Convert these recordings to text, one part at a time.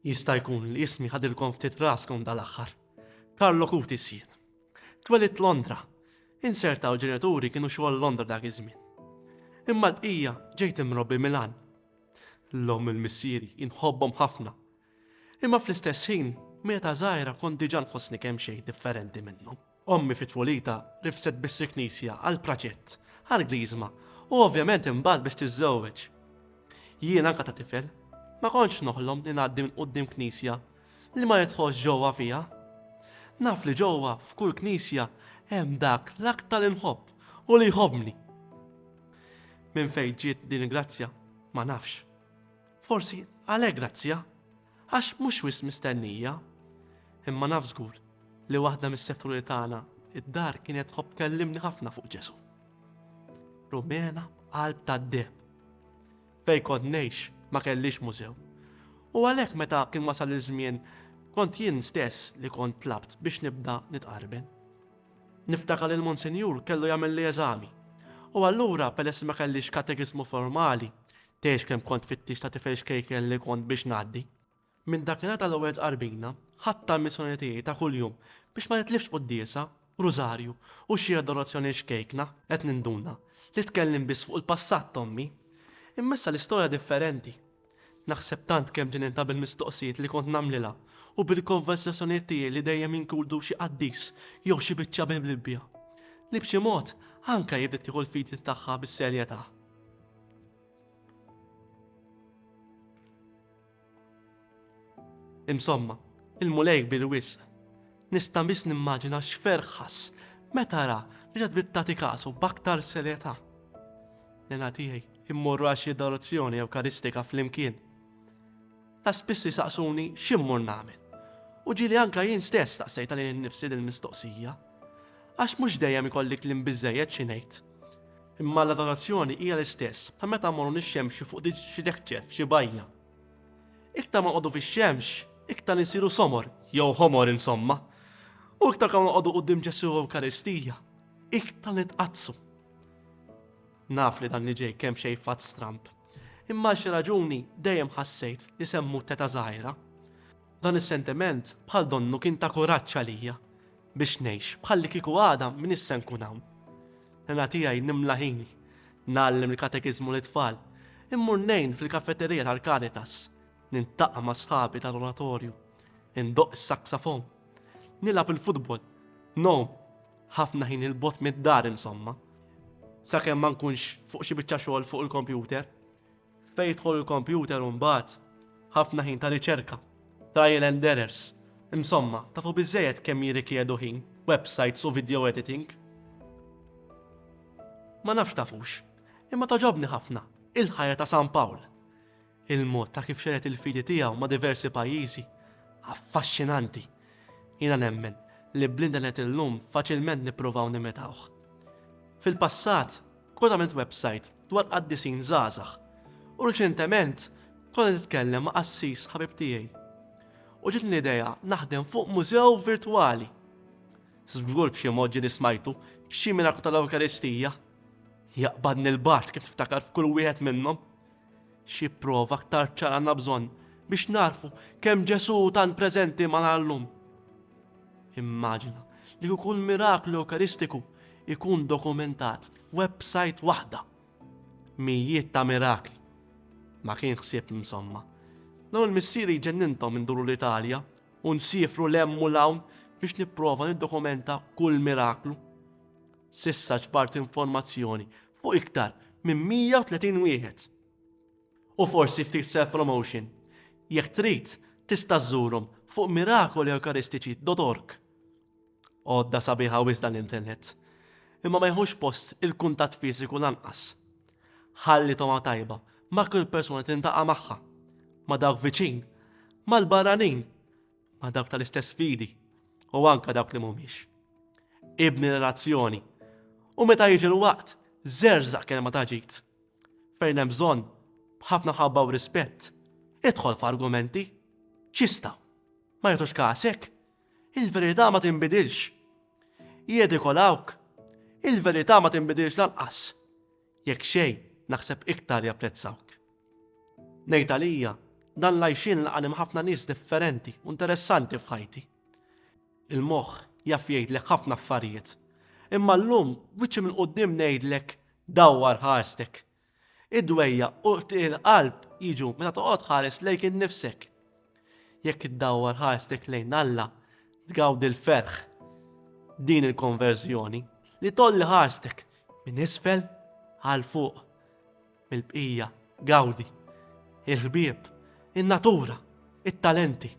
Jista' jkun li ismi ħadilkom ftit raskom dal-aħħar. Karlo Kuti sjien. Twelit Londra. Insertaw ġenituri kienu xogħol Londra dak iż-żmien. Imma l-bqija ġejt imrobbi Milan. L-om il-missieri inħobbhom ħafna. Imma fl-istess ħin, meta żgħira kont diġà nħossni kemm xejn differenti minnhom. Ommi fi tfulitha rifset biss il-knisja għal praċett, għal griżma u ovvjament imbagħad biex tiżżewweġ. Jien anke ta' tifel, ma kontx noħlom li ngħaddi minn quddiem knisja li ma nidħolx ġewwa fiha. Naf li ġewwa f'kull knisja hemm dak l-aktar li nħobb u li jħobbni. Minn fejn ġiet din il-grazzja ma nafx. Forsi għalhekk grazzja. Għax mhux wisq mistennija. Imma naf żgur li waħda mis-seturi tagħna id-dar kienet tħobb tkellimni ħafna fuq Ġesù. Rumena b'qalb tad-deheb. Fejn kont ngħix ma kellix mużew. U għalhekk meta kien wasal iż-żmien kont jien stess li kont tlabt biex nibda nitqarben. Niftakar li l-Monsinjur kellu jagħmel li eżami. U allura peress ma kellix katekiżmu formali, Tgħix kemm kont tfittix ta' tifel xkejken li kont biex ngħaddi. Minn dakinhar tal-ewwel tqarbina, ħadt tal-missjoni tiegħi ta' kuljum biex ma nitlifx quddiesa, rużarju u xi adorazzjoni xkejkna, qed ninduna li tkellimt biss fuq il-passat t'ommi. Imma issa l-istorja differenti. Naħseb tant kemm ġenintha bil-mistoqsijiet li kont nagħmlilha u bil-konversazzjonijiet tiegħi li dejjem jinkludu xi qaddis jew xi biċċa bil-Bibbja, li b'xi mod anke hi bdiet tieħu l-fidi tagħha bis-serjetà. Insomma, il-Mulej kbir wisq. Nista' biss nimmaġina x'ferħ ħass meta ra li ġad bittati kasu b'aktar serjetà. Nena tiegħi immorru għal xi adorazzjoni ewkaristika flimkien. Ta' spiss isaqsuni x'immur nagħmel. U ġieli anke jien stess staqsejtha lili nnifsi dil-mistoqsija. Għax mhux dejjem ikolli kliem biżżejjed xi ngħid. Imma l-adorazzjoni hija l-istess bħal meta mmorru nixxemxu fuq xi dekċer f'xi bajja. Iktar ma nqogħdu fix-xemx, iktar insiru somor, jew ħomor insomma. U iktar kemm noqogħdu quddiem Ġesù Ewkaristija, iktar nitqaddsu. Naf li dan li ġej kemm xejn fatt stramb. Imma għal xi raġuni dejjem ħassejt li se mmut t'età żgħira. Dan is-sentiment bħal donnu kien ta' kuraġġ għalija biex ngħix bħallikieku għada m'iniex se nkun hawn. Nana tiegħi nimla ħini, ngħallem il-katekiżmu lit-tfal, immur ngħin fil-kafeterija tal-Caritas, niltaqa' ma' sħabi tal-oratorju, indoqq is-saksafon, nilgħab il-futbol, ngħum, Ħafna ħin 'il bogħod mid-dar insomma. Sakemm ma nkunx fuq xi biċċa xogħol fuq il-kompjuter. Fejn jidħol il-kompjuter u mbagħad ħafna ħin ta' riċerka, trial and errors. Insomma, tafu biżejjed kemm jirrikjedu ħin, websites u video editing. Ma nafx tafux, imma toġobni ħafna il-ħajja ta' San Pawl. Il-mod ta' kif xered il-fidi tiegħu ma' diversi pajjiżi, affaxxinanti. Jiena nemmen li bl-internet illum faċilment nippruvaw nimitawh. Fil-passat kont għamilt websajt dwar qaddisin żgħażagħ u riċentement kont qed nitkellem ma' qassis ħabib tiegħi u ġietni l-idea naħdem fuq mużew virtwali. Żgur b'xi mod ġieli smajtu b'xi miraklu tal-Ewkaristija. Jaqbadni l-bard kif niftakar f'kull wieħed minnhom. Xi prova aktar ċara għandna bżonn biex nagħrfu kemm Ġesù hu tant preżenti magħna llum? Immaġina li kieku l-miraklu Ewkaristiku jkun dokumentat f'websajt waħda. Mijiet ta' mirakli. Ma kien ħsieb insomma. Dawn il-missieri jġenninthom induru l-Italja u nsiefru l hemm u l hawn biex nipprova niddokumenta kull miraklu. S'issa ġbart informazzjoni fuq iktar minn 130 wieħed. U forsi ftit self-promotion, jekk trid tista' żżurhom fuq mirakolieukaristici.org. Għodda sabiħa wisq dan l-internet, imma ma jieħux post il-kuntatt fiżiku lanqas. Ħalli togħma tajba ma' kull persuna tintaqa' magħha, ma' dawk viċin, mal-barranin, ma' dawk tal-istess fidi u anke dawk li mhumiex. Ibni relazzjoni u meta jiġi l-waqt żerżaq kelma ta' ġid. Fejn hemm bżonn, b'ħafna ħabba u rispett, idħol f'argumenti. Ċista. Ma jagħtux kasek. Il-verità ma tinbidilx. Jedikolawk. Il-verità ma tinbidilx lanqas. Jekk xejn, naħseb iktar japprezzawk. Ngħid għalija, dan l-għajxien laqani ma' ħafna nies differenti u interessanti f'ħajti. Il-moħħ jaf jgħidlek ħafna affarijiet, imma llum b'wiċċi minn quddiem ngħidlek dawwar ħarstek. Id-dwejjaq u qtigħ il-qalb jiġu meta toqgħod tħares lejk innifsek Jekk iddawwar ħarstek lejn Alla, tgawdi l-ferħ din il-konverżjoni li tolli ħarstek minn isfel għal fuq mill-bqija gawdi il-ħbieb, in-natura, it-talenti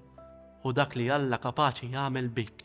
u dak li Alla kapaċi jagħmel bik.